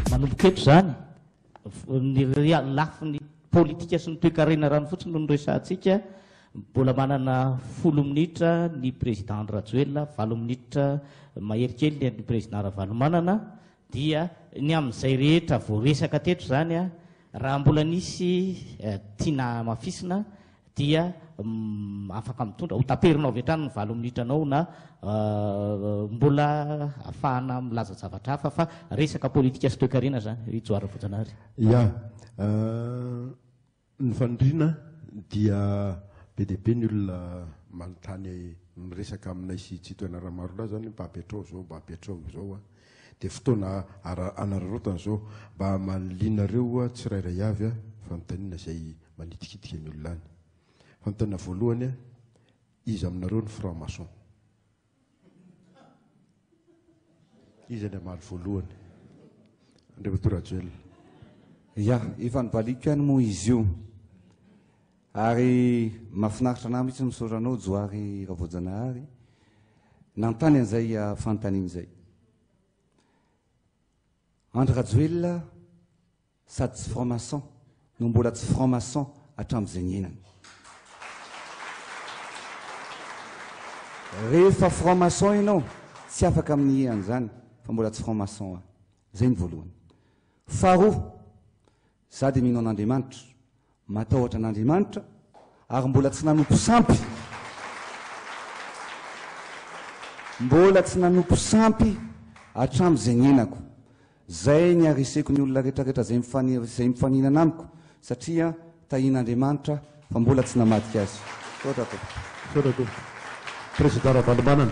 Manomboka eto izany, ny lafiny politika sy ny toekarena rano fotsiny no noresahantsika. Mbola manana folo minitra ny président Andry Rajoelina, valo minitra mahery kely ny président Ravalomanana. Dia ny amin'izay rehetra voaresaka teto izany, raha mbola nisy tiana hamafisina dia afaka mitondra, ho taperinao avy hatrany ny valo minitranao na mbola afahana milaza zavatra hafa fa resaka politika sy toekarena izany, i Johary Rafojanahary. Ya. Ny faniriana dia be dia be ny olona manontany miresaka aminay sy Chitoena Ramarola zany hoe mba apetrao zao mba apetrao izao a! dia fotoana anararaotana zao mba amalianareo tsirairay avy a! fanontaniana izay manitikitika ny olona any. Fanontaniana voalohany a! iza aminareo ny franc maçon? Iza ilay hamaly voalohany? Andriamatoa Rajoelina. Ya, efa nivaliako ihany moa izy io. Ary mahafinaritra anà mihitsy misaotra anao Johary Ravoajanahary nanontany an'izay ah, fanontaniana izay. Andry Rajoelina Sady tsy franc maçon no mbola tsy franc maçon hatramin'izay niainany. Rehefa franc maçon ianao, tsy afaka amin'ny an'izany fa mbola tsy franc maçon aho. Izay ny voalohany. Faharoa, izaho dia mino an'Andriamanitra, Matahotra an'Andriamanitra ary mbola tsy nanompo sampy. Mbola tsy nanompo sampy hatramin'ny izay niainako. Izay ny hariseko ny olona rehetrarehetra izay mifaniry izay mifaninana amiko satria tahian'Andriamanitra fa mbola tsy namadika azy. Misaotra tompoko. Misaotra tompoko. Prezida Ravalomanana.